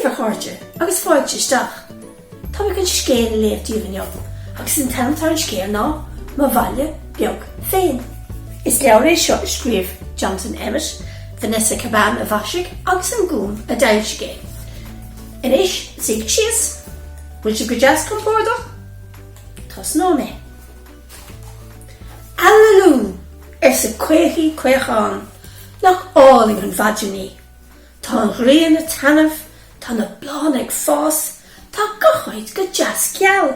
Daoibh, a chairde, agus fáilte isteach. Táim ag dul scéal a léamh daoibh inniu, agus an t-ainm atá ar an scéal ná Mo Bhaile Beag Féin. Is leabhar é seo a scríobh Jonathan Emmett, Vanessa Cabban a mhaisigh agus An Gúm a d'fhoilsigh é. Anois, suígí síos. Bhfuil sibh go deas compordach? Tosnóidh mé. Aililiú! arsa Caochaí Caochán. Nach álainn an mhaidin í? Tá an ghrian ag taitneamh, tá na bláthanna ag fás, tá gach áit go deas geal.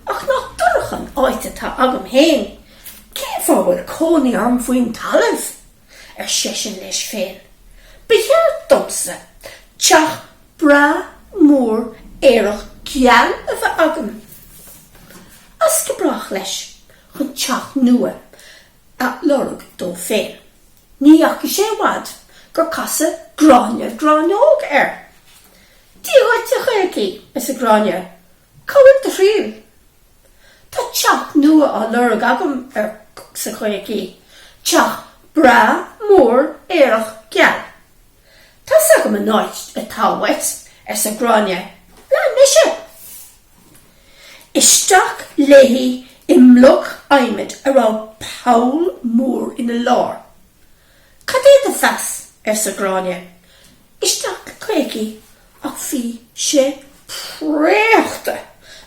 Ach nach dorcha an áit atá agam féin? Cén fáth a bhfuil cónaí orm faoin talamh? ar seisean leis féin. Ba cheart domsa teach breá mór aerach geal a bheith agam. As go brách leis chun teach nua a lorg dó féin. Ní dheachaigh sé i bhfad gur casadh Gráinne Gráinneog air. Dia dhuit, a Chaochaí, arsa Gráinne. Cá bhfuil do thriall? Tá teach nua á lorg agam arsa Caochaí, teach breá, mór, aerach, geal. Tá's agam an áit atá uait, arsa Gráinne. Lean mise! Isteach léi i mbloc adhmaid a raibh poll mór ina lár. Cad é do mheas? arsa Gráinne. Isteach le Caochaí ach bhí sé préachta.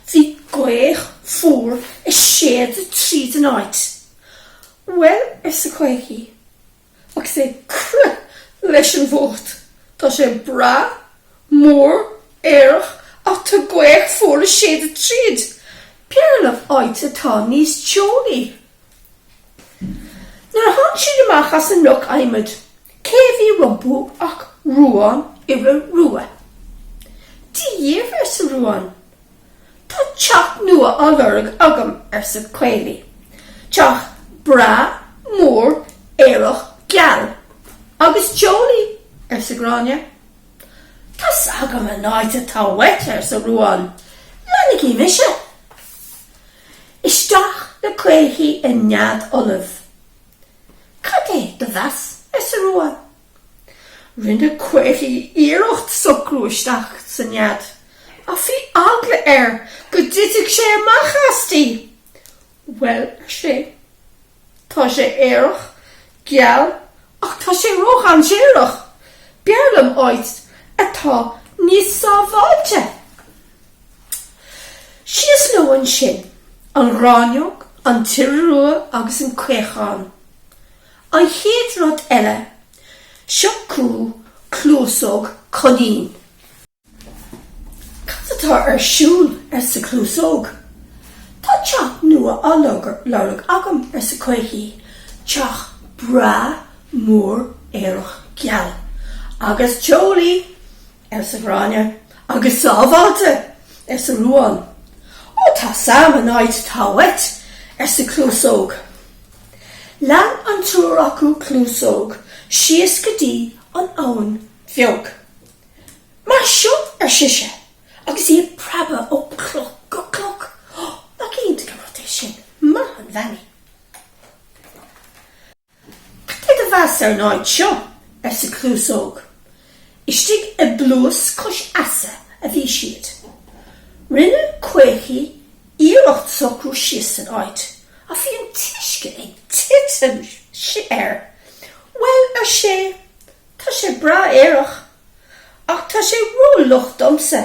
Bhí gaoth fuar a' séideadh tríd an áit. Bhuel, arsa Caochaí, agus é ag crith leis an bhfuacht, tá sé breá, mór, aerach ach tá gaoth fuar a' séideadh tríd. B'fhearr liom áit atá níos teolaí. Nuair a tháinig siad amach as an mbloc adhmaid, cé a bhí rompu ach Ruán Iora Rua. Dia dhaoibh, arsa Ruán. Tá teach nua á lorg agam, arsa Caochaí. Teach breá, mór, aerach, geal. Agus teolaí, arsa Gráinne. Tá's agam an áit atá uait, arsa Ruán. Leanaigí mise. Isteach le Caochaí i nead fholamh. Cad é do mheas, arsa Ruán. Rinne Caochaí iarracht socrú isteach sa nead ach bhí eagla air go dtitfeadh sé amach aisti. Bhuel, ar sé, Tá sé aerach, geal ach tá sé ródhainséarach. B'fhearr liom áit atá níos sábháilte. Síos leo ansin, an ghráinneog, an t-iora rua agus an caochán. An chéad rud eile, seo chucu Cluasóg Coinín. Cad atá ar siúl? arsa Cluasóg. Tá teach nua á lorg agam, arsa Caochaí, teach breá mór aerach geal. Agus teolaí! arsa Gráinne. Agus sábháilte! arsa Ruán. Ó, tá 's agam an áit atá uait, arsa Cluasóg. Lean an triúr acu Cluasóg síos go dtí an Abhainn Bheag. Mar seo, ar sise, agus í ag preabadh ó chloch go cloch, Ó, nach iontach an rud é sin, maith an bhean í! Cad é do mheas ar an áit seo? arsa Cluasóg. Istigh i bpluais cois easa a bhí siad. Rinne Caochaí iarracht socrú síos san áit, ach bhí an t-uisce ag titim air. Bhuel, ar sé. Tá sé breá aerach, ach tá sé rófhliuch domsa,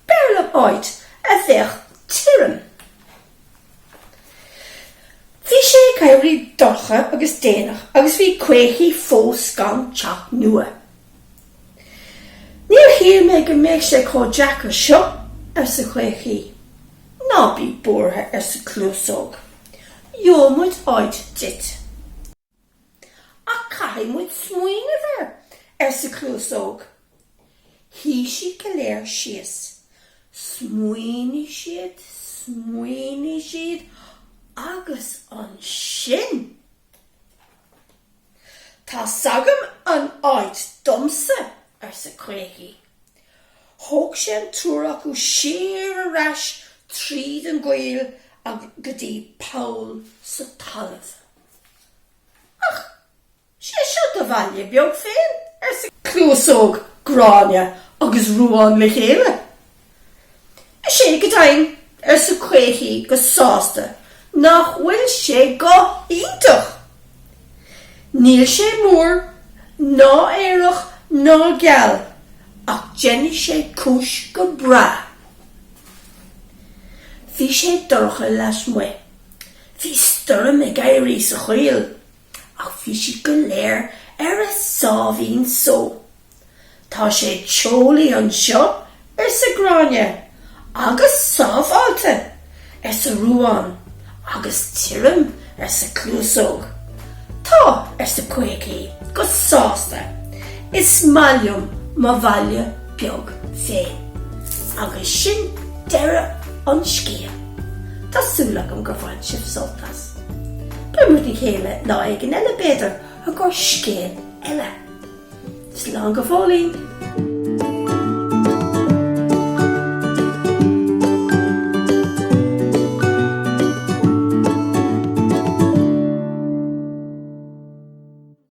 b'fhearr liom áit a bheadh tirim. Bhí sé ag éirí dorcha agus déanach agus bhí Caochaí fós gan teach nua. Níor shíl mé go mbeadh sé chomh deacair seo, arsa Caochaí. Ná bí buartha, arsa Cluasóg, gheobhaidh muid áit duit. Ach caithfidh muid smaoineamh air, arsa Cluasóg. Shuigh siad go léir síos. Smaoinigh siad, smaoinigh siad agus ansin. Tá 's agam an áit domsa, arsa Caochaí. Thóg sé an triúr acu siar ar ais tríd an gcoill go dtí poll sa talamh. Ach sé seo do bhaile beag féin, arsa Cluasóg, Gráinne agus Ruán le chéile. Is é go deimhin, arsa Caochaí go sásta, nach bhfuil sé go hiontach! Níl sé mór, ná aerach, ná geal, ach déanfaidh sé cúis go breá. Bhí sé dorcha lasmuigh. Bhí stoirm ag éirí sa choill ach bhí siad go léir ar a sáimhín só. Tá sé teolaí anseo, arsa Gráinne. Agus sábháilte! arsa Ruán. Agus tirim, arsa Cnuasóg. Tá, arsa Quigley go sásta, is maith liom mo bhaile beag féin. Agus sin deireadh an scéil. Tá súil agam gur bhain sibh sult as. Beimid le chéile lá éigin eile, b'fhéidir, i gcomhair scéal eile. Slán go fóillín!